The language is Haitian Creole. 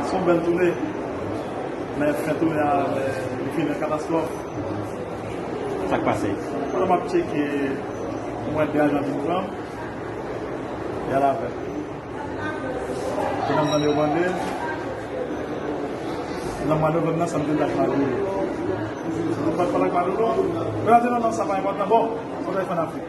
Son bèl toune, men fen toune a li fini an katastwòf. Sak pase? Pandan map tcheke, m wè 2 ajan vin pran m, y al avè m. Epi lèm tande yo mande m, nan mwa novanm nan sa m te di ak Maduro. Sa m te pat pale ak Maduro? Yo la di non non sa pa enpòtan. Bon, fòk nou al fè an Afrik.